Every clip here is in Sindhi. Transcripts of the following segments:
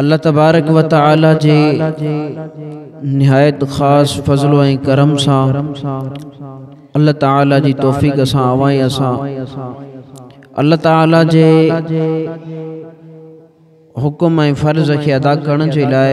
الله تبارڪ و تعالي جي نهايت خاص فضل ۽ ڪرم سان الله تعالي جي توفيق سان اوهان ۽ اسان الله تعالي جي حڪم ۽ فرض کي ادا ڪرڻ جي لاء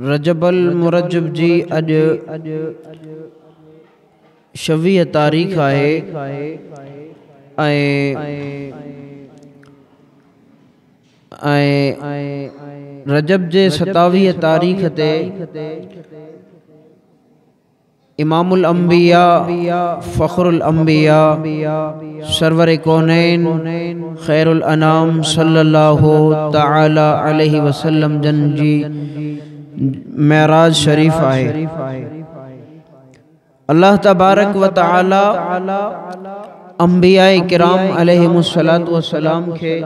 رجب المرجب جي اڄ شويهه تاريخ آهي ۽ رجب جي ستاويهه تاريخ تي امام الانبياء فخر الانبياء سرور ڪونين خير الانام صلي الله تعالي عليه وسلم جن جي معراج شريف آهي الله تبارڪ وتعالي انبياء ڪرام عليهم الصلوة والسلام کي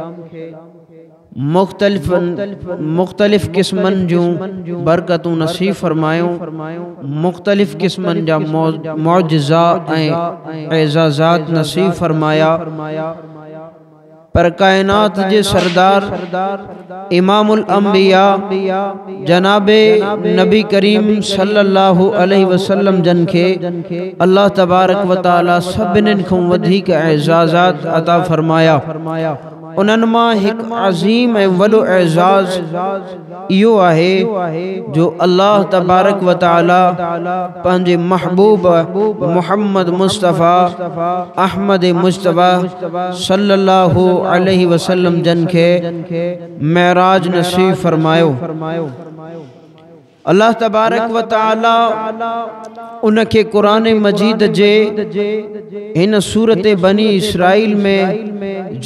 مختلفن مختلف قسمن جون برڪتون نصيب فرمايو مختلف قسمن جا معجزا ۽ اعزازات نصيب فرمايا پر ڪائنات جي سردار امام الانبياء جناب نبي ڪريم صلي الله عليه وسلم جن کي الله تبارڪ وتعالي سڀنن کان وڌيڪ اعزازات عطا فرمايا انهن مان هڪ عظيم ۽ وڏو اعزاز اهو آهي جو الله تبارڪ و تعاليٰ پنهنجي محبوب محمد مصطفيٰ احمد مجتبيٰ صلّي اللّٰه عليه وسلّم جن کي معراج نصيب فرمايو الله تبارڪ و تعالي ان کي قرآن مجيد جي هن سورت بني اسرائيل ۾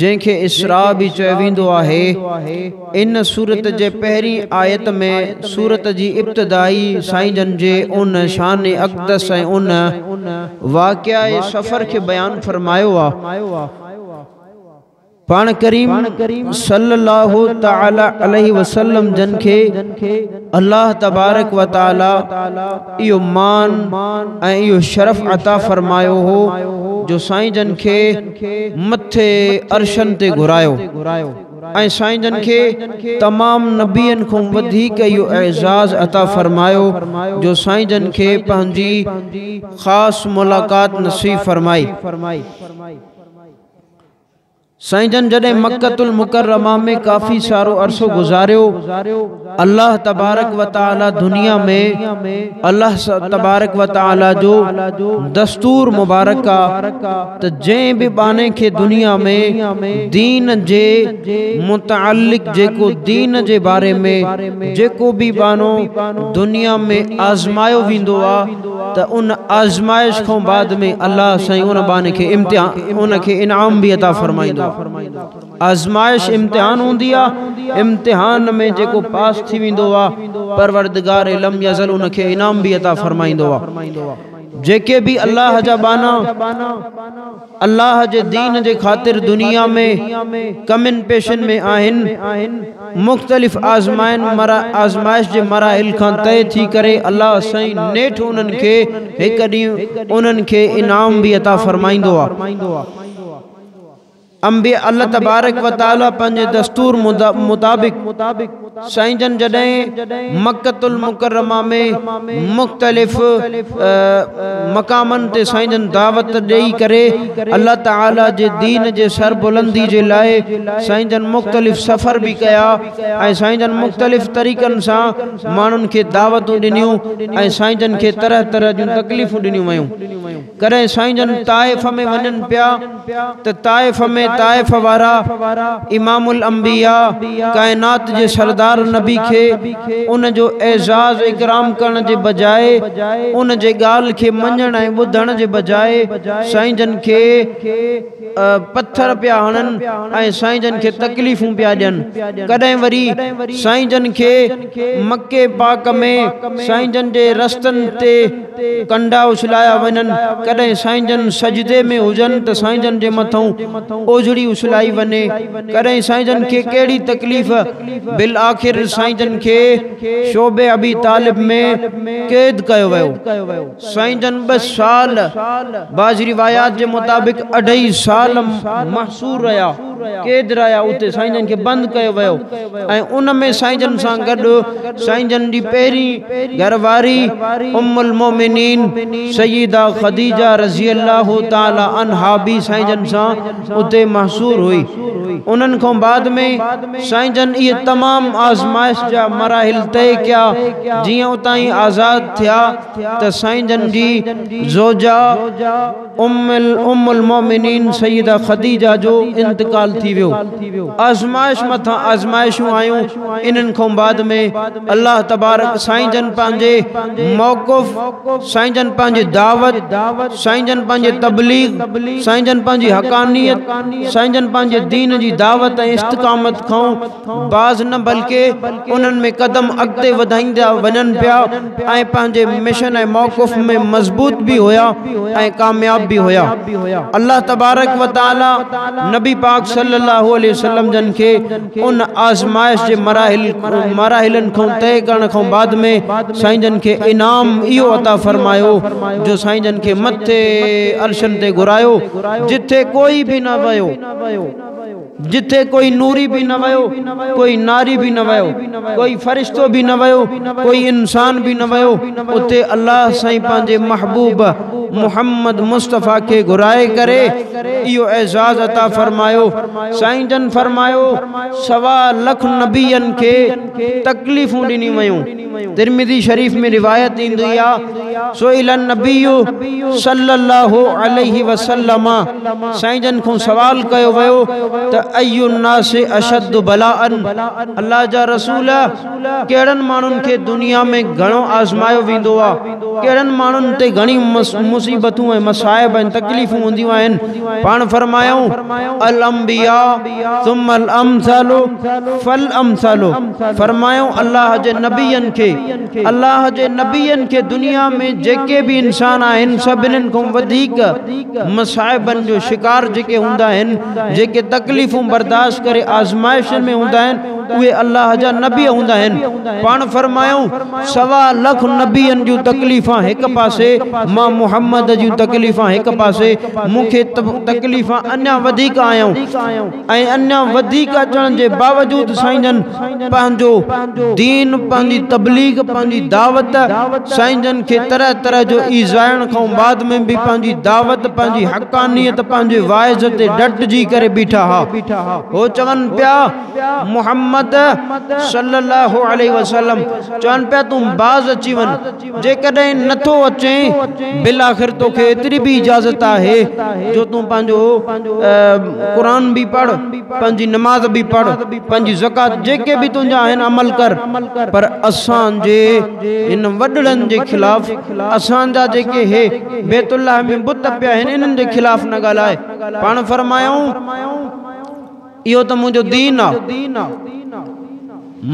جنهن کي اسراء به چيو ويندو آهي ان سورت جي پهرين آيت ۾ سورت جي ابتدائي سائين جن جي ان شان اقدس ۽ ان واقعي سفر کي بيان فرمايو آهي پاڻ ڪريم صلّي الله تعالٰي عليه وسلّم جن کي الله تبارڪ وتعالٰي اهو مان ۽ اهو شرف عطا فرمايو هو جو سائين جن کي مٿي عرشن تي گهرايو ۽ سائين جن کي تمام نبين کان وڌيڪ اهو اعزاز عطا فرمايو جو سائين جن کي پنهنجي خاص ملاقات نصيب فرمائي سائين جن جڏهن مڪة المڪرمه ۾ ڪافي سارو عرصو گذاريو الله تبارڪ و تعالي دنيا ۾ الله تبارڪ و تعالي جو دستور مبارڪ آ ته جنهن به ٻانهي کي دنيا ۾ دين جي متعلق جيڪو دين جي باري ۾ جيڪو به ٻانهو دنيا ۾ آزمايو ويندو آ ته ان آزمائش کان بعد ۾ الله سائين ان ٻانهي کي ان کي انعام به عطا فرمائيندو آهي آزمائش امتحان هوندي آهي امتحان ۾ جيڪو پاس ٿي ويندو آهي پروردگار لم يزل ان کي انعام به عطا فرمائيندو آهي جيڪي به الله جا ٻانها الله جي دين جي خاطر دنيا ۾ ڪمين پيشن ۾ آهن مختلف آزمائن آزمائش جي مراحل کان طئي ٿي ڪري الله سائين نيٺ انهن کي هڪ ڏينهن انهن کي انعام به عطا فرمائيندو انبياء الله تبارڪ وتعالي پنهنجي دستور مطابق سائين جن جڏهن مڪة المڪرمه ۾ مختلف مقامن تي سائين جن دعوت ڏئي ڪري الله تعالي جي دين جي سربلندي جي لاء سائين جن مختلف سفر به ڪيا ۽ سائين جن مختلف طريقن سان ماڻهن کي دعوتون ڏنيون ۽ سائين جن کي طرح طرح جون تڪليفون ڏنيون ويون ڪڏهن سائين جن طائف ۾ وڃن پيا ته طائف ۾ طائف وارا امام الانبياء ڪائنات جي سردار نبي کي ان جو اعزاز اڪرام ڪرڻ جي بجاء ان جي ڳالهه کي مڃڻ ۽ ٻڌڻ جي بجاء سائين جن کي پٿر پيا هڻن ۽ سائين جن کي تڪليفون پيا ڏين ڪڏهن وري سائين جن کي مڪي پاڪ ۾ سائين جن جي رستن تي ڪنڊا اڇلايا وڃن، ڪڏهن سائين جن سجدي ۾ هجن ته سائين جن جي مٿئون اوجهڙي اڇلائي وڃي، ڪڏهن سائين جن کي ڪهڙي تڪليف، بالآخر سائين جن کي شعب ابي طالب ۾ قيد ڪيو ويو. سائين جن ٻه سال، بعض روايات جي مطابق اڍائي سال محصور رهيا. قيد رهيا اتي سائين جن کي بند ڪيو ويو ۽ ان ۾ سائين جن سان گڏ سائين جن جي پهرين گهر واري ام المومنين سيده خديجه رضي الله تعالي عنها به سائين جن سان اتي محصور هئي انهن کان بعد ۾ سائين جن اهي تمام آزمائش جا مراحل طئي ڪيا جيئن اتان آزاد ٿيا ته سائين جن جي زوجه ام المؤمنين سيده خديجه جو انتقال ٿي ويو آزمائش مٿان آزمائشون آيون انهن کان بعد ۾ الله تبارڪ سائين جن پنهنجي موقف سائين جن پنهنجي دعوت سائين جن پنهنجي تبليغ سائين جن پنهنجي حقانيت سائين جن پنهنجي دين جي دعوت ۽ استقامت کان باز نه بلڪه انهن ۾ قدم اڳتي وڌائيندا وڃن پيا ۽ پنهنجي مشن ۽ موقف ۾ مضبوط به هيا ۽ ڪامياب به هيا الله تبارڪ و تعالي نبي پاڪ صلي الله عليه وسلم جن کي ان آزمائش جي مراحلن کان طئي ڪرڻ کان بعد ۾ سائين جن کي انعام اهو عطا فرمايو جو سائين جن کي مٿي عرشن تي گهرايو جتي ڪوئي به نه ويو جتي ڪوئي نوري به نه ويو، ڪوئي ناري به نه ويو، ڪوئي فرشتو به نه ويو، ڪوئي انسان به نه ويو، اتي الله سائين پنهنجي محبوب محمد مصطفيٰ کي گهرائي ڪري اهو اعزاز عطا فرمايو. سائين جن فرمايو، سوا لک نبين کي تڪليفون ڏنيون ويون. ترمذي شريف ۾ روايت ايندي آ سئل النبي صلي الله عليه وسلم سائين جن کون سوال ڪيو ويو ته اي الناس اشد بلاء الله جا رسول ڪهڙن ماڻهن کي دنيا ۾ گهڻو آزمايو ويندو آ ڪهڙن ماڻهن تي گهڻي مصيبتون ۽ مصائب ۽ تڪليفون هونديون آهن پاڻ فرمايائون الانبياء ثم الامثال فالامثال فرمايائون الله جي نبين کي الله جي نبين کي دنيا ۾ جيڪي به انسان آهن سڀنن کان وڌيڪ مصائبن جو شڪار جيڪي هوندا آهن جيڪي تڪليفون برداشت ڪري آزمائشن ۾ هوندا آهن اهي الله جا نبي هوندا آهن. پاڻ فرمايائون، سوا لک نبين جون تڪليفان هڪ پاسي، مان محمد جون تڪليفان هڪ پاسي، مون کي تڪليفان اڃا وڌيڪ آيائون ۽ اڃا وڌيڪ اچڻ جي باوجود سائين جن پنهنجو دين، پنهنجي تبليغ، پنهنجي دعوت، سائين جن کي طرح طرح جو ايذائڻ کانئون بعد ۾ به پنهنجي دعوت، پنهنجي حقانيت، پنهنجي واعظ تي ڊٽجي ڪري بيٺا ها. هو چون پيا محمد صلي الله عليه وسلم چون پيا تون باز اچي وڃ جيڪڏهن نه ٿو اچين بالاخر تو کي ايتري به اجازت آهي جو تون پنهنجو قرآن به پڙھ پنهنجي نماز به پڙھ پنهنجي زڪات جيڪي به تنهنجا آهن عمل ڪر پر اسان جي ان وڏڙن جي خلاف اسان جا جيڪي هي بيت الله ۾ بت پيا آهن انهن جي خلاف نه ڳالهاء پاڻ فرمايائون، اهو ته منهنجو دين آ.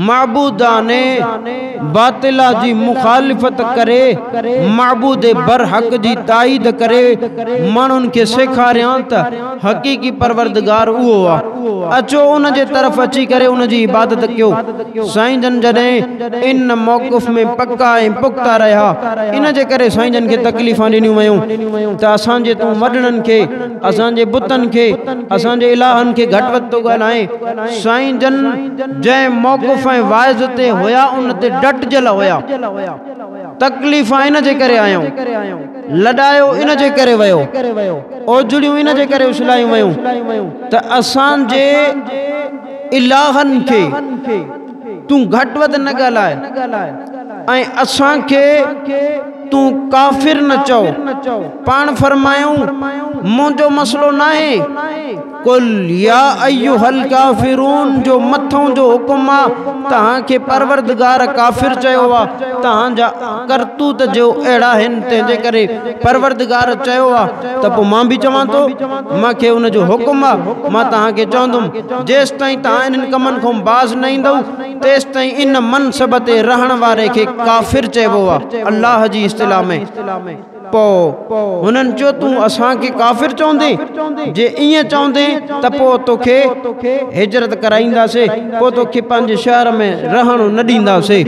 معبودان باطله جي مخالفت ڪري معبود برحق جي تائيد ڪري ماڻهن کي سيکاريان ته حقيقي پروردگار اهو آ. اچو ان جي طرف اچي ڪري ان جي عبادت ڪيو. سائين جن جڏهن ان موقف ۾ پڪا ۽ پختا رهيا ان جي ڪري سائين جن کي تڪليفان ڏنيون ويون ته اسان جي تون وڏڙن کي اسان جي بتن کي اسان جي الهن کي گهٽ وڌ ٿو ڳالهائين سائين جن جنهن موقف ۽ واعظ تي هيا ان تي ڊٽجل هيا تڪليفان ان جي ڪري آيون. لڏايو ان جي ڪري ويو، اوجڙيون ان جي ڪري اڇلايون ويون ته اسان جي الهن کي تون گهٽ وڌ نه ڳالهاء ۽ اسان کي تون ڪافر نه چئو، پاڻ فرمايائون، منهنجو مسئلو ناهي. قل يا ايها الڪافرون جو مٿئون جو حڪم آ توهان کي پروردگار ڪافر چيو آ توهان جا ڪرتوت جو اهڙا آهن تنهن جي ڪري پروردگار چيو آ ته پوء مان به چوان ٿو مان کي ان جو حڪم آ مان توهان کي چوندم جيستائين توهان انهن ڪمن کان باز نه ايندؤ تيستائين ان منصب تي رهڻ واري کي ڪافر چئبو آ الله جي اصطلاح ۾. پوء هنن چيو، تون اسان کي ڪافر چوندين؟ جي ائين چوندين ته پوء توکي هجرت ڪرائينداسين، پوء توکي پنهنجي شهر ۾ رهڻ نه ڏينداسين.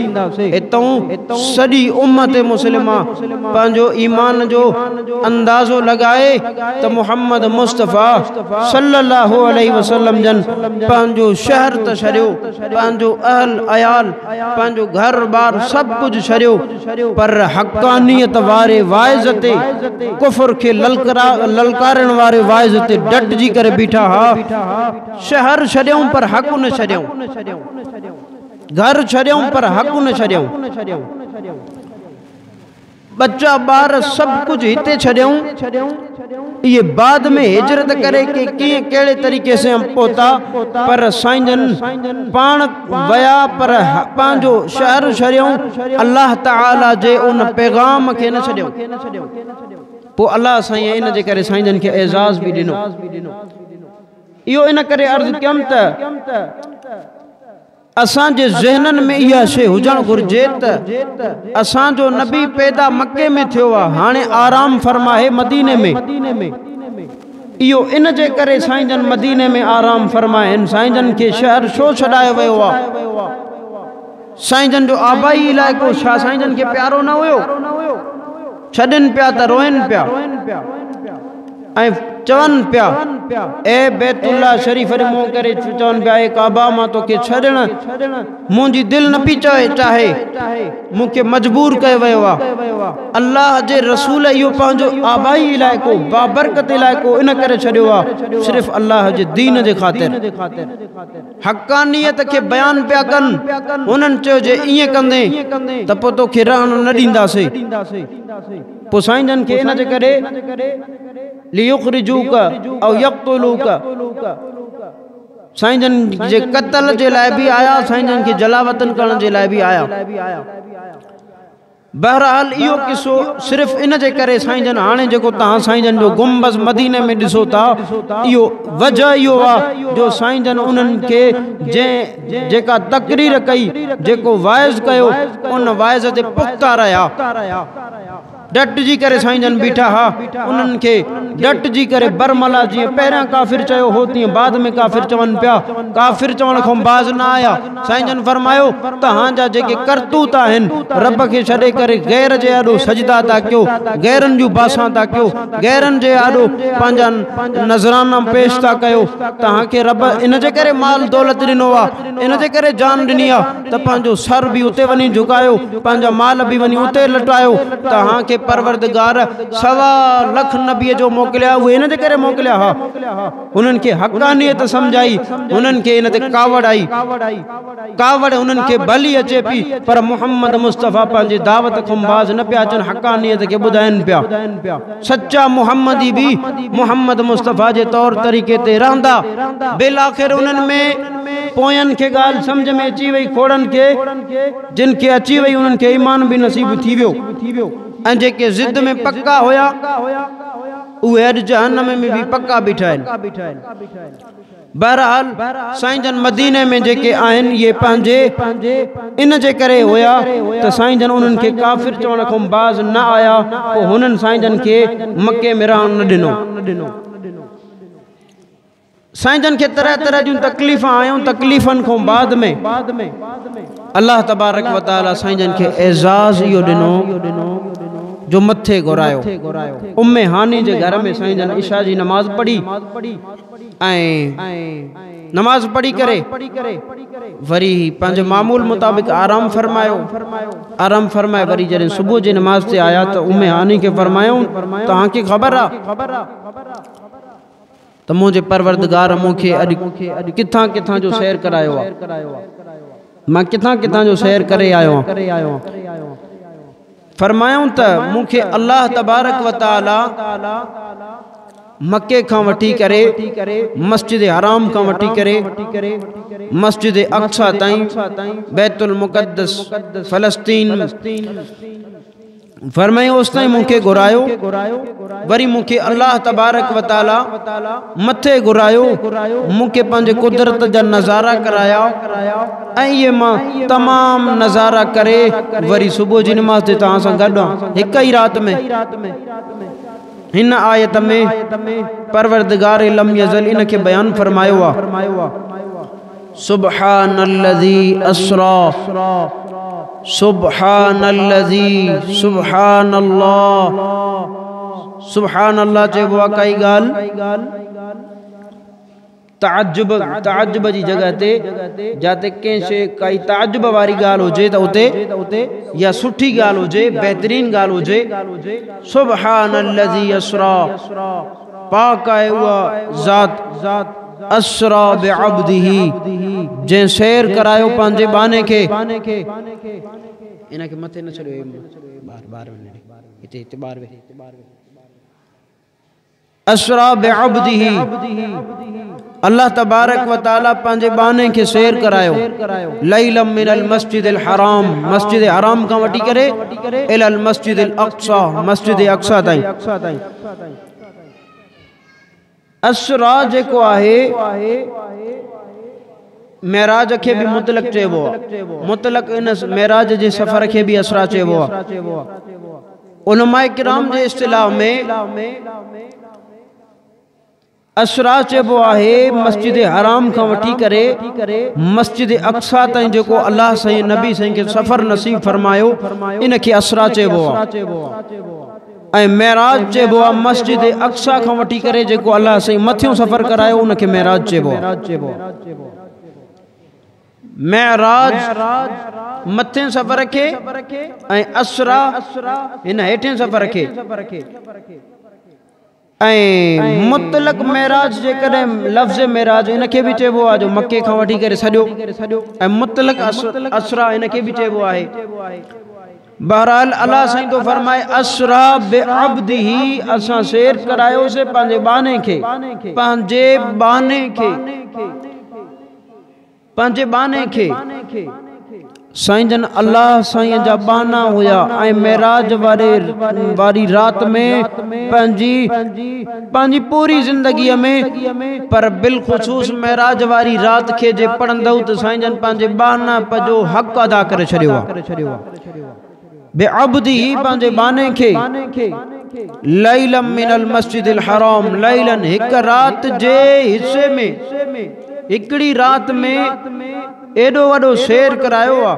اتئون سڄي امت مسلمه پنهنجو ايمان جو اندازو لڳائي ته محمد مصطفيٰ صلّي اللّٰه عليه وسلّم جن پنهنجو شهر ته ڇڏيو، پنهنجو اهل عيال، پنهنجو گهر بار سڀ ڪجهه ڇڏيو، پر حقانيت واري واعظ تي ڪفر کي للڪارڻ واري واعظ تي ڊٽجي ڪري بيٺا ها. شهر ڇڏيائون پر حق نه ڇڏيائون. گهر ڇڏيائون پر حق نه ڇڏيائون. ٻچا ٻار سڀ ڪجهه هتي ڇڏيائون. اهي بعد ۾ هجرت ڪري ڪي ڪيئن ڪهڙي طريقي سان پهتا پر سائين جن پاڻ ويا پر پنهنجو شهر شريون الله تعالي جي ان پيغام کي نه ڇڏيون پوء الله سائين ان جي ڪري سائين جن کي اعزاز به ڏنو اهو ان ڪري عرض ڪيم ته اسان جي ذهنن ۾ اها شيء هجڻ گهرجي ته اسان جو نبي پيدا مڪي ۾ ٿيو آهي هاڻي آرام فرما آهي مديني ۾ اهو ان جي ڪري سائين جن مديني ۾ آرام فرما آهن سائين جن کي شهر ڇو ڇڏايو ويو آهي سائين جن جو آبائي علائقو ڇا سائين جن کي پيارو نه هيو ڇڏين پيا ته روئين پيا ۽ چون پيا، اي بيت الله شريف ڏي منهن ڪري چون پيا، اي ڪعبه مان توکي ڇڏڻ منهنجي دل نه پئي چاهي، مون کي مجبور ڪيو ويو آهي. الله جي رسول اهو پنهنجو آبائي علائقو، بابرڪت علائقو ان ڪري ڇڏيو آهي، صرف الله جي دين جي خاطر. حقانيت کي بيان پيا ڪن، هنن چيو جي ائين ڪندين ته پوء توکي رهڻ نه ڏينداسين. پسائيندن کي ان جي ڪري ليخرجوڪ او يقتلوڪ سائين جن جي قتل جي لاء به آيا سائين جن کي جلا وطن ڪرڻ جي لاء به آيا بهرحال اهو قصو صرف ان جي ڪري سائين جن هاڻي جيڪو تهان سائين جن جو گنبذ مدينه ۾ ڏسو ٿا اهو وجه اهو آهي جو سائين جن انهن کي جنهن جيڪا تقرير ڪئي جيڪو واعظ ڪيو ان واعظ تي پختا رهيا ڊٽجي ڪري سائين جن بيٺا ها انهن کي ڊٽجي ڪري برملا جيئن پهريان ڪافر چيو هو تيئن بعد ۾ ڪافر چون پيا ڪافر چوڻ کان باز نه آيا سائين جن فرمايو تهان جا جيڪي ڪرتوت آهن رب کي ڇڏي ڪري غير جي آڏو سجدا ٿا ڪيو غيرن جون باسان ٿا ڪيو غيرن جي آڏو پنهنجا نظرانا پيش ٿا ڪيو تهان کي رب ان جي ڪري مال دولت ڏنو آهي ان جي ڪري جان ڏني آهي ته پنهنجو سر به اتي وڃي جهڪايو، پنهنجا مال به وڃي اتي لٽايو، توهان کي پروردگار سوا لک نبي جو موڪليا، اهي ان جي ڪري موڪليا ها، انهن کي حقانيت سمجهائي، انهن کي ان تي ڪاوڙ آئي، ڪاوڙ انهن کي ڀلي اچي پئي، پر محمد مصطفيٰ پنهنجي دعوت کنڀاز نه پيا اچن، حقانيت کي ٻڌائين پيا. سچا محمدي به محمد مصطفيٰ جي طور طريقي تي رهندا. بالآخر انهن ۾ پوين کي ڳالهه سمجهه ۾ اچي وئي. کوڙن کي جن کي اچي وئي انهن کي ايمان به نصيب ٿي ويو ۽ جيڪي ضد ۾ پڪا هيا اهي اڄ جهنم ۾ به پڪا بيٺا آهن. بهرحال سائين جن مديني ۾ جيڪي آهن اهي پنهنجي ان جي ڪري هيا ته سائين جن انهن کي ڪافر چوڻ کان باز نه آيا پوء هنن سائين جن کي مڪي ۾ رهڻ نه ڏنو. سائين جن کي طرح طرح جون تڪليفون آيون تڪليفن کان بعد ۾ الله تبارڪ و تعالي سائين جن کي اعزاز اهو ڏنو جو مٿي گهرايو ام هاني جي گهر ۾ سائين جن عشاء جي نماز پڙهي ۽ نماز پڙهي ڪري وري پنهنجي معمول مطابق آرام فرمايو آرام فرمائي وري جڏهن صبح جي نماز تي آيا ته ام هاني کي فرمايائون توهان کي خبر آ ته منهنجي پروردگار مون کي اڄ ڪٿان ڪٿان جو سير ڪرايو آ مان ڪٿان ڪٿان جو سير ڪري آيو آهيان فرمايائون ته مون کي الله تبارڪ و تعالي مڪي کان وٺي ڪري مسجد حرام کان وٺي ڪري مسجد اقصا تائين بيت المقدس فلسطين فرمائي اوس تائين مون کي گھرايو وري مون کي الله تبارڪ و تعالي مٿي گھرايو مون کي پنهنجي قدرت جا نظارا ڪرايا ۽ مان تمام نظارا ڪري وري صبح جي نماز تي توهان سان گڏ آن هڪ ئي رات ۾ هن آيت ۾ پروردگار لم يزل ان کي بيان فرمايو آ سبحان الذي اسرا سبحان الذي سبحان الله سبحان الله چئبو آ ڪائي ڳالهه تعجب، تعجب جي جڳهه تي جاتي ڪنهن شيء ڪائي تعجب واري ڳالهه هجي ته اتي يا سٺي ڳالهه هجي، بهترين ڳالهه هجي، سبحان الذي اسريٰ، پاڪ آهي اها ذات، اسريٰ بعبده، جنهن سير ڪرايو پنهنجي ٻانهي کي. ان کي مٿي نه ڇڏيو. اسرا بعبده الله تبارڪ وتعالي پنهنجي ٻانهي کي سير ڪرايو ليلا من المسجد الحرام مسجد حرام کان وٺي ڪري الى المسجد الاقصى مسجد اقصا تائين اسرا جيڪو آهي معراج کي به مطلق چئبو مطلق ان معراج جي سفر کي به اسرا چئبو علماء ڪرام جي اصطلاح ۾ اسراج چئبو آهي مسجد حرام کان وٺي ڪري مسجد اقصا تائين جيڪو الله سائين نبي سائين کي سفر نصيب فرمايو ان کي اسرا چئبو آهي ۽ معراج چئبو آهي مسجد اقصا کان وٺي ڪري جيڪو الله سائين مٿيون سفر ڪرايو ان کي معراج چئبو آهي معراج، مٿين سفر کي، ۽ اسريٰ، هن هيٺين سفر کي. ۽ مطلق معراج جيڪڏهن لفظ معراج ان کي به چئبو آهي جو مڪي کان وٺي ڪري سڄو ۽ مطلق اسريٰ ان کي به چئبو آهي. بهرحال الله سائين ٿو فرمائي اسريٰ بعبده اسان سير ڪرايوسين پنهنجي ٻانهي کي، پنهنجي ٻانهي کي. پنهنجي ٻانهي کي، سائين جن الله سائين جا ٻانها هيا ۽ معراج واري رات ۾ پنهنجي پنهنجي پوري زندگي ۾ پر بالخصوص معراج واري رات کي جي پڙهندؤ ته سائين جن پنهنجي ٻانهن پجو حق ادا ڪري ڇڏيو آ. بعبده پنهنجي ٻانهي کي ليلا من المسجد الحرام ليلا هڪ رات جي حصي ۾ هڪڙي رات ۾ ايڏو وڏو سير ڪرايو آ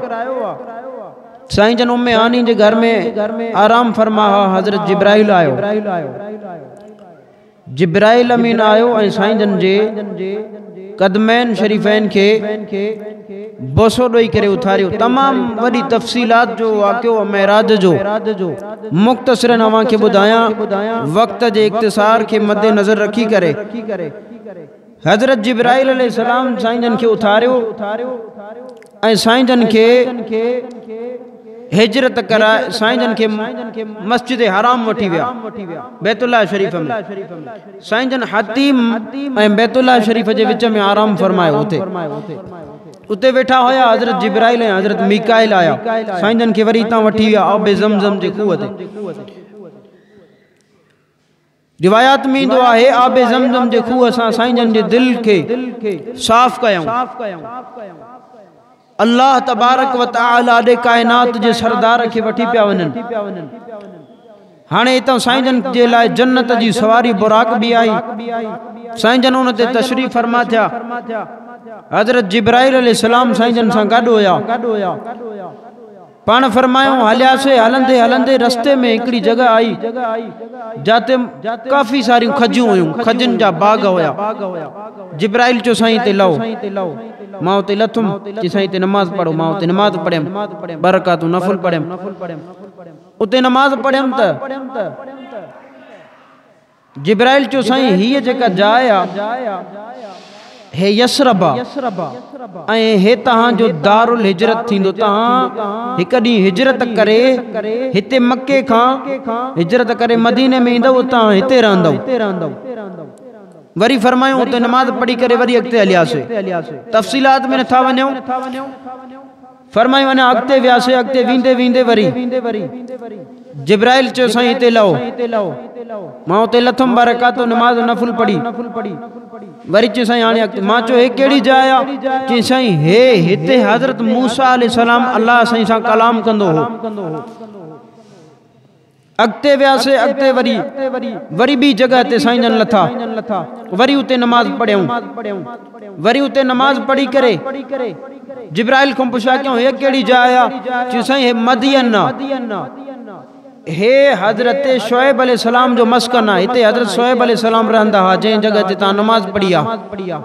سائين جن ام هاني جي گهر ۾ آرام فرما ها حضرت جبرائيل آيو جبرائيل امين آيو ۽ سائين جن جي قدمين شريفين کي بوسو ڏئي ڪري اٿاريو. تمام وڏي تفصيلات جو واقعو معراج جو. مختصرا اوهان کي ٻڌايان وقت جي اختصار کي مدنظر رکي ڪري. حضرت جبرائيل عليه السلام سائين جن کي اٿاريو ۽ سائين جن کي هجرت ڪرائي سائين جن کي مسجد حرام وٺي ويا بيت الله شريف ۾ سائين جن حتيم ۽ بيت الله شريف جي وچ ۾ آرام فرمايو اتي اتي ويٺا هيا حضرت جبرائيل ۽ حضرت ميڪائيل آيا سائين جن کي وري تان وٺي ويا آب زمزم جي کوه تي روايات ۾ ايندو آهي آب زمزم جي کوهه سان سائين جن جي دل کي صاف ڪيائون الله تبارڪ و تعالي ڏي ڪائنات جي سردار کي وٺي پيا وڃن هاڻي اتان سائين جن جي لاء جنت جي سواري براق به آئي سائين جن ان تي تشريف فرما ٿيا حضرت جبرائيل عليه السلام سائين جن سان گڏ هيا پاڻ فرمايائون هلياسين هلندي هلندي رستي ۾ هڪڙي جڳهه آئي جاتي ڪافي ساريون کجيون هيون کجين جا باغ هيا جبرائيل چيو سائين هتي لهو مان هتي لٿم چي سائين هتي نماز پڙهو مان هتي نماز پڙهيم ٻه رڪعتون نفل پڙهيم اتي نماز پڙهيم ته جبرائيل چيو سائين هيء جيڪا جاء آ هي يثرب آ ۽ هي توهان جو دار الهجرت ٿيندو توهان هڪ ڏينهن هجرت ڪري هتي مڪي کان هجرت ڪري مديني ۾ ايندؤ اتان هتي رهندؤ وري فرمايو اتي نماز پڙهي ڪري وري اڳتي هلياسي تفصيلات ۾ نٿا وڃون فرمايو اڃا اڳتي وياسي اڳتي ويندي ويندي وري جبرائيل چيو سائين هتي لهو مان اتي لٿم ٻه رڪعتون نماز نفل پڙهي وري چيو سائين هاڻي اڳتي مان چيو هي ڪهڙي جاء آ چي سائين هي هتي حضرت موسيٰ عليه السلام الله سائين سان ڪلام ڪندو هو اڳتي وياسي اڳتي وري وري ٻي جڳهه تي سائين جن لٿا وري اتي نماز پڙهيون وري اتي نماز پڙهي ڪري جبرائيل کان پڇا ڪيون هي ڪهڙي جاء آ چيون سائين هي مدين آ هي حضرت شعيب عليه السلام جو مسڪن آ هتي حضرت شعيب عليه السلام رهندا ها جنهن جڳهه تي تان نماز پڙهي آ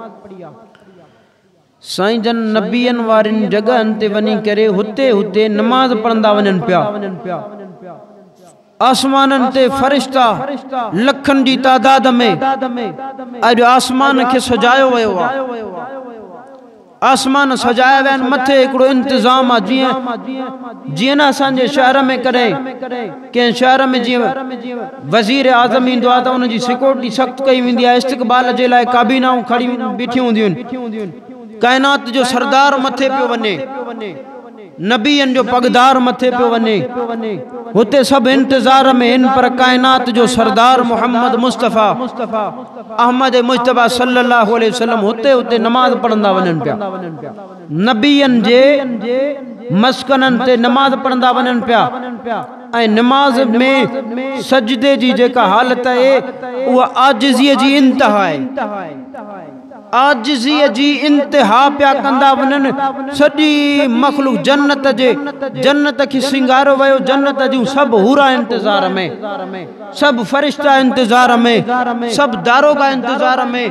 سائين جن نبين وارين جڳهن تي وڃي ڪري هتي هتي نماز پڙهندا وڃن پيا. آسمانن تي فرشتا لکن جي تعداد ۾ اڄ آسمان کي سجايو ويو آ. آسمان سجايا ويا آهن مٿي هڪڙو انتظام آ جيئن جيئن نه اسان جي شهر ۾ ڪڏهن ڪنهن شهر ۾ جيئن وزيراعظم ايندو آهي ته ان جي سيڪيورٽي سخت ڪئي ويندي آهي، استقبال جي لاء ڪابينائون کڙيون بيٺيون هونديون آهن. ڪائنات جو سردار مٿي پيو وڃي، نبين جو پڳدار مٿي پيو وڃي، هتي سڀ انتظار ۾ هن پر ڪائنات جو سردار محمد مصطفيٰ احمد مجتبيٰ صلّي اللّٰه عليه وسلّم هتي هتي نماز پڙهندا وڃن پيا. نبين جي مسڪنن تي نماز پڙهندا وڃن پيا ۽ نماز ۾ سجدي جي جيڪا حالت اهي اها عاجزي جي انتها آهي عاجزي جي انتها پيا ڪندا وڃن سڄي مخلوق جنت جي جنت کي سينگاريو ويو جنت جون سڀ حورا انتظار ۾ سڀ فرشتا انتظار ۾، سڀ داروغا انتظار ۾،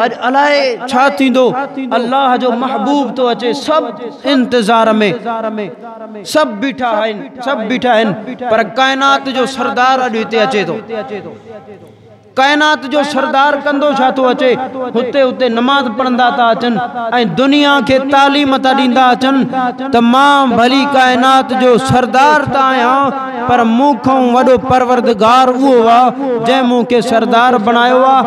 اڄ الائي ڇا ٿيندو، الله جو محبوب ٿو اچي، سڀ انتظار ۾، سڀ بيٺا آهن، سڀ بيٺا آهن، پر ڪائنات جو سردار اڄ هتي اچي ٿو. ڪائنات جو سردار ڪندو ڇا ٿو اچي، هتي هتي نماز پڙهندا ٿا اچن ۽ دنيا کي تعليم ٿا ڏيندا اچن ته مان ڀلي ڪائنات جو سردار ته آهيان، پر مون کانئون وڏو پروردگار اهو آ جنهن مون کي سردار بڻايو آ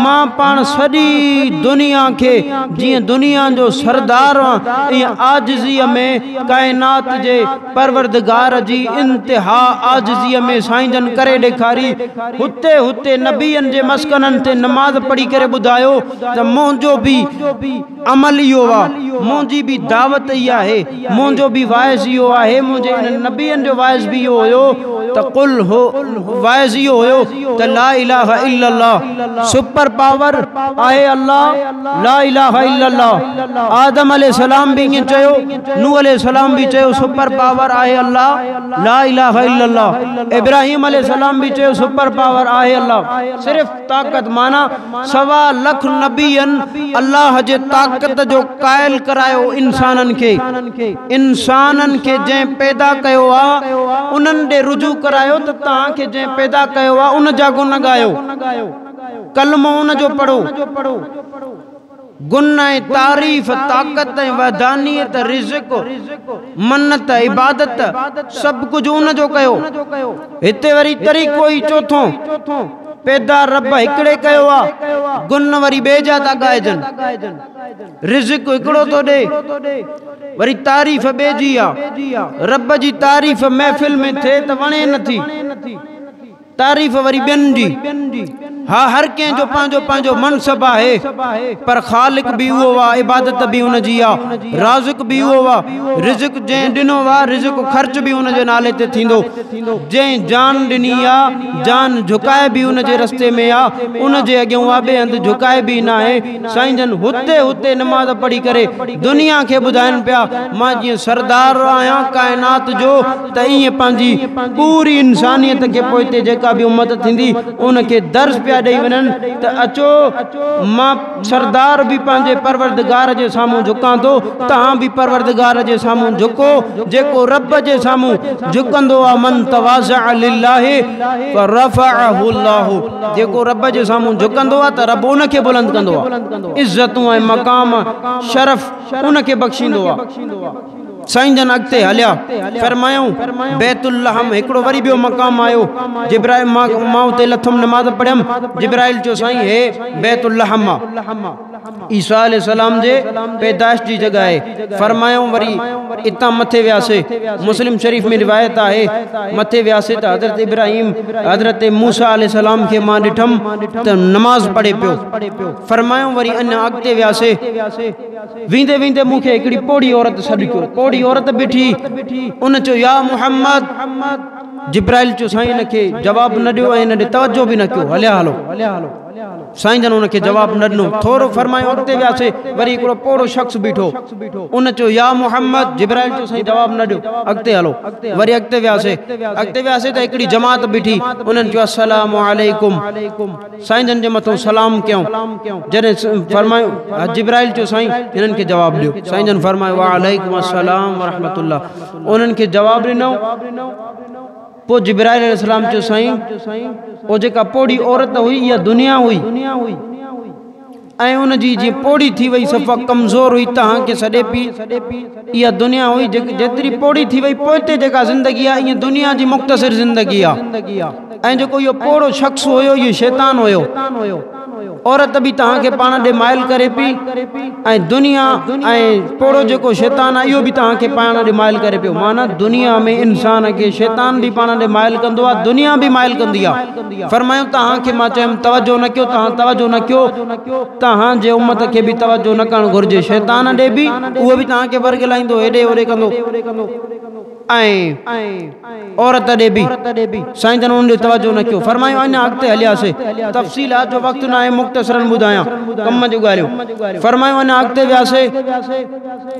مان پاڻ سڄي دنيا کي جيئن دنيا جو سردار هئان ائين عاجزيء ۾ ڪائنات جي پروردگار جي انتها عاجزيء ۾ سائين جن ڪري ڏيکاري هتي هتي نبين جي مسڪنن تي نماز پڙهي ڪري ٻڌايو ته منهنجو به عمل اهو آ، منهنجي به دعوت اهي آهي، منهنجو به وعظ اهو آهي، منهنجي انهن نبين جو وعظ به اهو هيو ته قل هو وعظ اهو هيو ته لا اله الا الله سپر پاور آهي الله لا اله الا الله آدم عليه السلام به ائين چيو نوح عليه السلام به چيو سپر پاور آهي الله لا اله الا الله ابراهيم عليه السلام به چيو سپر پاور آهي الله صرف طاقت معنيٰ سوا لک نبين الله جي طاقت جو قائل ڪرايو انسانن کي انسانن کي جنهن پيدا ڪيو آ انهن ڏي رجوع ڪرايو ته توهان کي جنهن پيدا ڪيو آ ان جا گن ڳايو ڪلمو ان جو پڙهو گن ۽ تعريف، طاقت ۽ وحدانيت، رزق، منت، عبادت، سڀ ڪجهه ان جو ڪيو. هتي وري طريقو ئي چوٿون، پيدا رب هڪڙي ڪيو آ، گن وري ٻئي جا ٿا ڳائجن. رزق هڪڙو ٿو ڏئي، وري تعريف ٻئي جي آ. رب جي تعريف محفل ۾ ٿئي ته وڻي نٿي. تعريف وري ٻين جي. ها هر ڪنهن جو پنهنجو پنهنجو منصب آهي پر خالق به اهو آ عبادت به ان جي آ رازق به اهو آ رزق جنهن ڏنو آ رزق خرچ به ان جي نالي تي ٿيندو جنهن جان ڏني آ جان جهڪائي به ان جي رستي ۾ آ ان جي اڳيون آ ٻئي هنڌ جهڪائبي ناهي سائين جن هتي هتي نماز پڙهي ڪري دنيا کي ٻڌائين پيا مان جيئن سردار آهيان ڪائنات جو ته ائين پنهنجي پوري انسانيت کي پوئتي جيڪا به امت ٿيندي ان کي درس پيا ڏئي وڃن ته اچو مان سردار به پنهنجي پروردگار جي سامهون جهڪان ٿو توهان به پروردگار جي سامهون جهڪو جيڪو رب جي سامهون جهڪندو آهي من تواضع لله فرفعه الله جيڪو رب جي سامهون جهڪندو آهي ته رب ان کي بلند ڪندو آهي عزتون ۽ مقام شرف ان کي بخشيندو آهي سائين جن اڳتي هليا فرمايائون بيت اللحم هڪڙو وري ٻيو مقام آيو جبرائيل مان اتي لٿم نماز پڙهيم جبرائيل چيو سائين هي بيت اللحم آ عيسيٰ عليه السلام جي پيدائش جي جڳهه آهي فرمايائون وري اتان مٿي وياسي مسلم شريف ۾ روايت آهي مٿي وياسي ته حضرت ابراهيم حضرت موسيٰ عليه السلام کي مان ڏٺم ته نماز پڙهي پيو فرمايائون وري اڃا اڳتي وياسي ويندي ويندي مون کي هڪڙي پوڙهي عورت سڏ ڪيو. پوڙهي عورت بيٺي. ان چيو، يا محمد! جبرائيل چيو، سائين ان کي جواب نه ڏيو ۽ ان ڏي توجهه به نه ڪيو. هليا هلو. سائين جن ان کي جواب نه ڏنو. ٿورو فرمايو اڳتي وياسي. وري هڪڙو پوڙهو شخص بيٺو. ان چيو، يا محمد! جبرائيل چيو، سائين جواب نه ڏيو. اڳتي هلو. وري اڳتي وياسي. اڳتي وياسي ته هڪڙي جماعت بيٺي. انهن چيو، السلام عليڪم. سائين جن جي مٿو سلام ڪيائون جڏهن فرمايو جبرائيل چيو سائين هنن کي جواب ڏيو سائين جن فرمايو وعليڪم السلام ورحمة الله انهن کي جواب ڏنو پوء جبرائيل عليه السلام چيو سائين او جيڪا پوڙهي عورت هئي اها دنيا هئي ۽ ان جي جيئن پوڙهي ٿي وئي صفا ڪمزور هئي تهان کي سڏي پئي اها دنيا هئي جيتري پوڙهي ٿي وئي پوئتي جيڪا زندگي آهي اها دنيا جي مختصر زندگي آهي ۽ جيڪو اهو پوڙهو شخص هيو اهو شيطان هيو عورت به تهان کي پاڻ ڏي مائل ڪري پئي ۽ دنيا ۽ پوڙهو جيڪو شيطان آهي اهو به تهان کي پاڻ ڏي مائل ڪري پيو معنيٰ دنيا ۾ انسان کي شيطان به پاڻ ڏي مائل ڪندو آهي دنيا به مائل ڪندي آهي فرمايو توهان کي مان چيم توجهه نه ڪيو توهان توجهه نه ڪيو توهان جي امت کي به توجهه نه ڪرڻ گهرجي شيطان ڏي به اهو به توهان کي ورغلائيندو هيڏي هوڏي ڪندو ۽ عورت ڏي به سائين جن انهن ڏي توجهه نه ڪيو فرمايو اڃان اڳتي هلياسي تفصيلات جو وقت ناهي مختصرا ٻڌايان ڪم جون ڳالهيون فرمايو اڃان اڳتي وياسي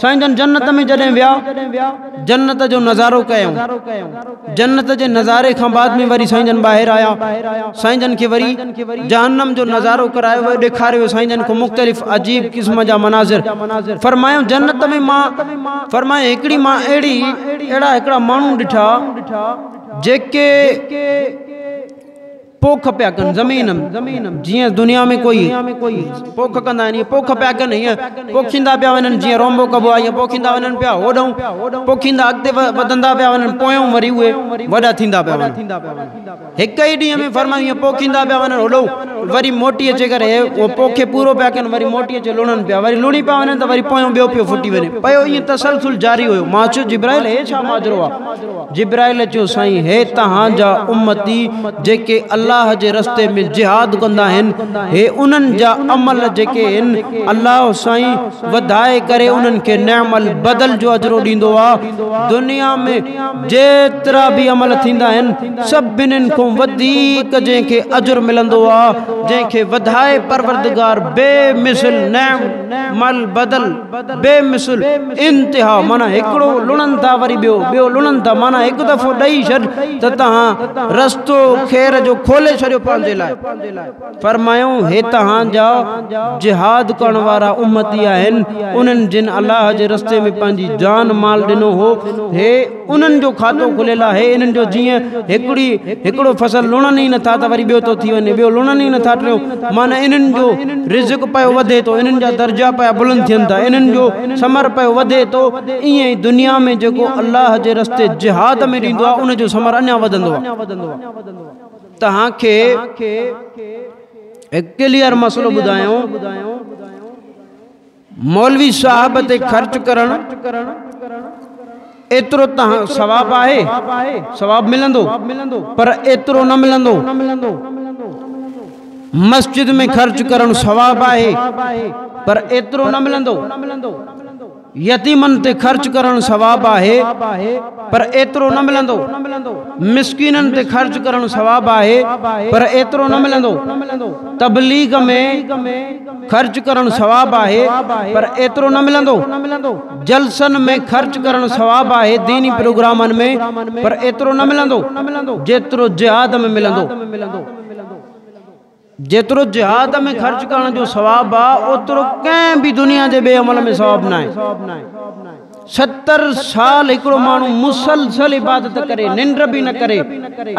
سائين جن جنت ۾ جڏهن ويا جنت جو نظارو ڪيائون جنت جي نظاري کان بعد ۾ وري سائين جن ٻاهر آيا سائين جن کي وري جهنم جو نظارو ڪرايو ويو ڏيکاريو سائين جن کي مختلف عجيب قسم جا مناظر فرمايائون جنت ۾ مان فرمايائون هڪڙي مان اهڙي اهڙا هڪڙا ماڻهو ڏٺا جيڪي پوک پيا ڪن زمين ۾ جيئن دنيا ۾ ڪوئي پوک ڪندا آهن پوک پيا ڪن هيئن پوکيندا پيا وڃن جيئن رونبو ڪبو آهي پوکيندا وڃن پيا هوڏهون پوکيندا اڳتي وڌندا پيا وڃن پويون وري اهي وڏا ٿيندا پيا وڃن هڪ ئي ڏينهن ۾ فرمائي هيئن پوکيندا پيا وڃن هوڏو وري موٽي اچي ڪري اهو پوکي پورو پيا ڪن وري موٽي اچي لوڻن پيا وري لوڻي پيا وڃن ته وري پويون ٻيو پيو ڦٽي وڃي پيو ائين تسلسل جاري هيو ماچو جبرائيل هي ڇا ماجرو آهي جبرائيل چيو سائين هي توهان جا امتي جيڪي الله جي رستي ۾ جهاد ڪندا آهن هي انهن جا عمل جيڪي آهن الله سائين وڌائي ڪري انهن کي نعم البدل جو اجرو ڏيندو آ دنيا ۾ جيترا به عمل ٿيندا آهن سڀنن کون وڌيڪ جنهن کي اجر ملندو آ جنهن کي وڌائي پروردگار بي مثل نعم البدل بي مثل، انتها، معنيٰ هڪڙو لڻن ٿا وري ٻيو، ٻيو لڻن ٿا، معنيٰ هڪ دفعو ڏئي ڇڏ ته تنهان رستو خير جو کولي ڇڏيو پنهنجي لاء. فرمايائون، هي توهان جا جهاد ڪرڻ وارا امتي آهن، انهن جن الله جي رستي ۾ پنهنجي جان مال ڏنو هو، هي، انهن جو کاتو کليل آهي انهن جو جيئن هڪڙي هڪڙو فصل لڻن ئي نٿا ته وري ٻيو ٿو ٿي وڃي ٻيو لڻن ئي نٿا ٽيون معنيٰ انهن جو رزق پيو وڌي ٿو انهن جا درجا پيا بلند ٿين ٿا انهن جو ثمر پيو وڌي ٿو ائين ئي دنيا ۾ جيڪو الله جي رستي جهاد ۾ ڏيندو آهي ان جو ثمر اڃا وڌندو آهي توهان کي هڪ ڪليئر مسئلو ٻڌايون مولوي صاحب تي خرچ ڪرڻ ايترو تنهن ثواب آهي ثواب ملندو پر ايترو نه ملندو مسجد ۾ خرچ ڪرڻ ثواب آهي پر ايترو نه ملندو يتيمن تي خرچ ڪرڻ ثواب آهي پر ايترو نه ملندو مسڪينن تي خرچ ڪرڻ ثواب آهي پر ايترو نه ملندو تبليغ ۾ خرچ ڪرڻ ثواب آهي پر ايترو نه ملندو جلسن ۾ خرچ ڪرڻ ثواب آهي ديني پروگرامن ۾ پر ايترو نه ملندو جيترو جهاد ۾ ملندو جيترو جهاد ۾ خرچ ڪرڻ جو ثواب آهي اوترو ڪنهن به دنيا جي ٻئي عمل ۾ ثواب ناهي. ستر سال هڪڙو ماڻهو مسلسل عبادت ڪري، ننڊ به نه ڪري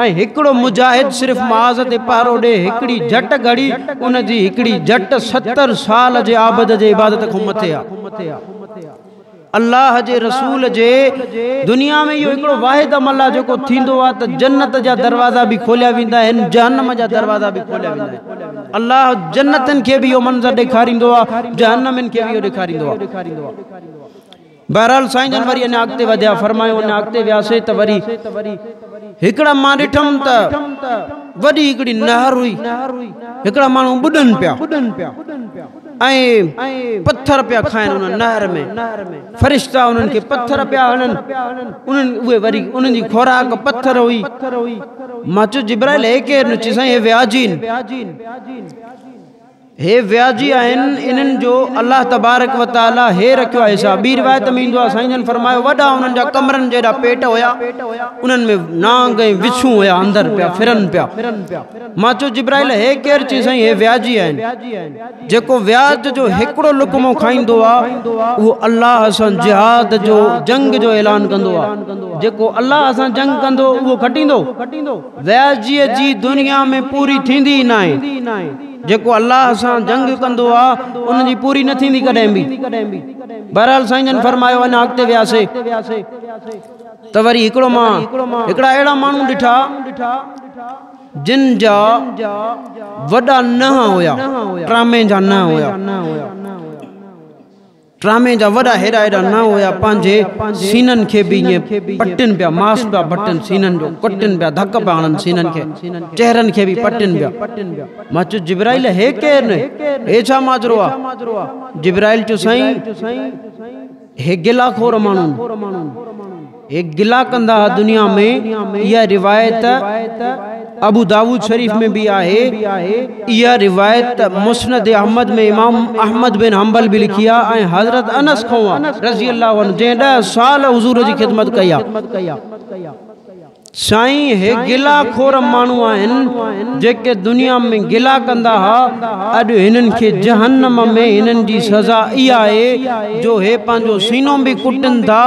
۽ هڪڙو مجاهد صرف معاذ تي پهرو ڏئي، هڪڙي جهٽ گهڙي، ان جي هڪڙي جهٽ ستر سال جي عابد جي عبادت کان مٿي آهي. الله جي رسول جي دنيا ۾ اهو هڪڙو واحد عمل آهي جيڪو ٿيندو آهي ته جنت جا دروازا به کوليا ويندا آهن، جهنم جا دروازا به کوليا ويندا آهن. الله جنتين کي به اهو منظر ڏيکاريندو آهي، جهنمين کي به اهو ڏيکاريندو آهي. بهرحال سائين جن وري اڃا اڳتي وڌيا فرمايو اڃا اڳتي وياسي ته وري هڪڙا مان ڏٺم ته وڏي هڪڙي نهر هئي هڪڙا ماڻهو ٻڏن پيا ۽ پٿر پيا کائن ان نهر ۾ فرشتا انهن کي پٿر پيا هڻن انهن اهي وري انهن جي خوراڪ پٿر هئي مان چو جبرائيل هي ڪير نو چي سائين هي وياجين هي وياجي آهن انهن جو الله تبارڪ و تعالي هي رکيو آهي حساب ٻي روايت ۾ ايندو آهي سائين جن فرمايو وڏا انهن جا ڪمرن جيڏا پيٽ هيا انهن ۾ نانگ ۽ وڇون هيا اندر پيا ڦرن پيا مان چو جبرائيل هي ڪير چي سائين هي وياجي آهن جيڪو وياج جو هڪڙو لقمو کائيندو آهي اهو الله سان جهاد جو جنگ جو اعلان ڪندو آهي جيڪو الله سان جنگ ڪندو اهو کٽيندو وياسجيء جي دنيا ۾ پوري ٿيندي ئي ناهي. جيڪو الله سان جنگ ڪندو آ، ان جي پوري نه ٿيندي ڪڏهن به. بهرحال سائين جن فرمايو اڃا اڳتي وياسي ته وري هڪڙو مان هڪڙا اهڙا ماڻهو ڏٺا جن جا وڏا ننهن هيا، ٽرامي جا ننهن هيا. ڊرامي جا وڏا هيڏا هيڏا نانء هيا پنهنجي سينن کي به ائين پٽين پيا ماس پيا ڀٽن سينن جو ڪٽين پيا ڌڪ پيا هڻن سينن کي چهرن کي به پٽين پيا مان چيس جبرائيل هي ڪير نه هي ڇا ماجرو آ جبرائيل چيو سائين هي گلا خور ماڻهون هي گلا ڪندا ها دنيا ۾، اها روايت ابوداؤد شريف ۾ به آهي، اها روايت مسند احمد ۾ امام احمد بن حنبل به لکي آهي ۽ حضرت انس کان آهي، رضي الله عنه، جنهن ڏهه سال حضور جي خدمت ڪئي آهي. سائين هي گلا خور ماڻهو آهن جيڪي دنيا ۾ گلا ڪندا ها اڄ هنن کي جهنم ۾ هنن جي سزا اها آهي جو هي پنهنجو سينو به ڪٽن ٿا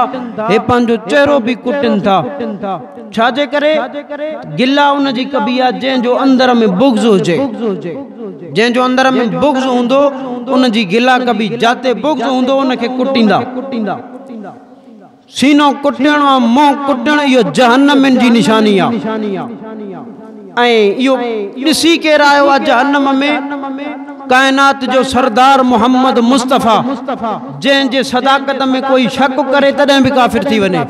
هي پنهنجو چهرو به ڪٽن ٿا ڇا جي ڪري گلا ان جي ڪبي آهي جنهن جو اندر ۾ بغض هجي جنهن جو اندر ۾ بغض هوندو ان جي گلا ڪبي جاتي بغض هوندو ان کي ڪٽيندا سينو ڪٽڻ ۽ منهن ڪٽڻ اهو جهنمين جي نشاني آهي ۽ اهو ڏسي ڪير آيو آهي جهنم ۾ ڪائنات جو سردار محمد مصطفيٰ جنهن جي صداقت ۾ ڪوئي شڪ ڪري تڏهن به ڪافر ٿي وڃي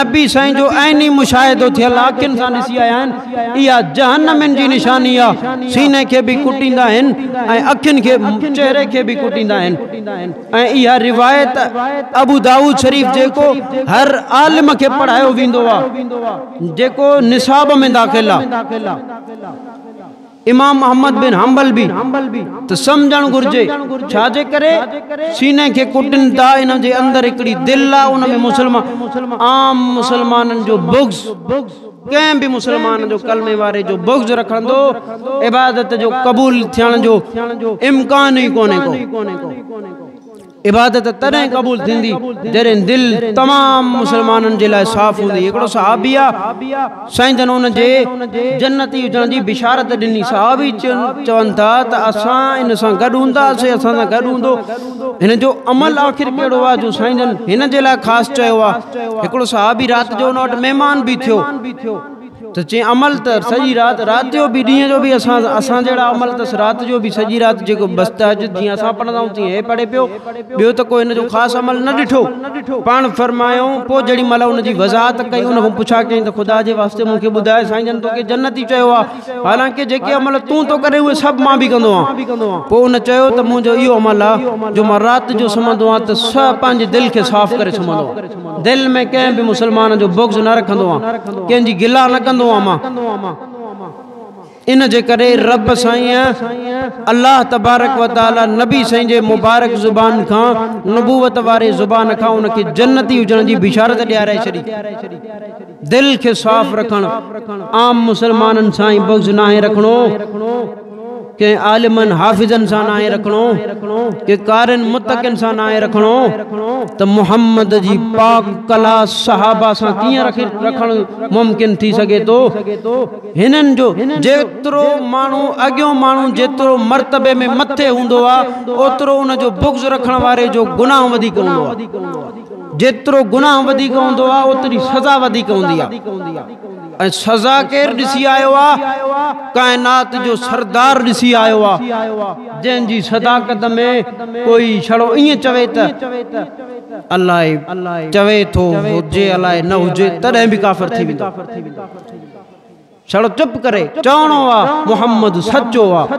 نبي سائين جو عيني مشاهدو ٿيل اکين سان ڏسي آيا آهن اها جهنمين جي نشاني آهي سيني کي به ڪٽيندا آهن ۽ اکين کي چهري کي به ڪٽيندا آهن ۽ اها روايت ابو دائود شريف جيڪو هر عالم کي پڙهايو ويندو آ جيڪو نصاب ۾ داخل آ امام احمد بن حنبل به ته سمجهڻ گهرجي ڇا جي ڪري سيني کي ڪٽن ٿا ان جي اندر هڪڙي دل آ ان ۾ مسلمان عام مسلمانن جو بغض ڪنهن به مسلمان جو ڪلمي واري جو بغض رکندو عبادت جو قبول ٿيڻ جو امڪان ئي ڪونهي ڪو عبادت تڏهن قبول ٿيندي جڏهن دل تمام مسلمانن جي لاء صاف هوندي هڪڙو صحابي آ سائين جن ان جي جنتي هجڻ جي بشارت ڏني صحابي چون ٿا ته اسان ان سان گڏ هوندا سي اسان سان گڏ هوندو هن جو عمل آخر ڪهڙو آهي جو سائين جن هن جي لاء خاص چيو آهي هڪڙو صحابي رات جو ان وٽ مهمان به ٿيو ته چي عمل ته سڄي رات رات جو به ڏينهن جو به اسان اسان جهڙا عمل ته رات جو به سڄي رات جيڪو بس تهجد جيئن اسان پڙهندا آهيون تيئن هي پڙهي پيو ٻيو ته ڪو هن جو خاص عمل نه ڏٺو پاڻ فرمايو پوء جهڙي مهل ان جي وضاحت ڪئي ان کان پڇا ڪيائين ته خدا جي واسطي مون کي ٻڌاء سائين جن توکي جنتي چيو آهي حالانڪه جيڪي عمل تون ٿو ڪرين اهي سڀ مان به ڪندو آهيان پوء ان چيو ته منهنجو اهو عمل آهي جو مان رات جو سمهندو آهيان ته سهء پنهنجي دل کي صاف ڪري سمهندو آهيان دل ۾ ڪنهن به مسلمان جو بغض نه رکندو آهيان ڪنهن جي گلا نه ڪندو آهيان مان ان جي ڪري رب سائين الله تبارڪ و تعالي نبي سائين جي مبارڪ زبان کان نبوت واري زبان کان ان کي جنتي هجڻ جي بشارت ڏيارائي ڇڏي دل کي صاف رکڻ، عام مسلمانن سان ئي بغض ناهي رکڻو، ڪنهن عالمن حافظن سان ناهي رکڻو، ڪنهن قارين متقين سان ناهي رکڻو ته محمد جي پاڪ ڪلاس صحابه سان ڪيئن رکڻ ممڪن ٿي سگهي ٿو؟ هنن جو جيترو ماڻهو اڳيون ماڻهن جيترو مرتبي ۾ مٿي هوندو آهي اوترو ان جو بغض رکڻ واري جو گناهه وڌيڪ هوندو آهي. جيترو گناهه وڌيڪ هوندو آهي اوتري سزا وڌيڪ هوندي آهي ۽ سزا ڪير ڏسي آيو آهي ڪائنات جو سردار ڏسي آيو آهي جنهن جي صداقت ۾ ڪوئي ڇڙو ائين چوي ته الائي چوي ٿو هجي الائي نه هجي تڏهن به ڪافر ٿي ويندو ڇڙو چپ ڪري چوڻو آهي محمد سچو آهي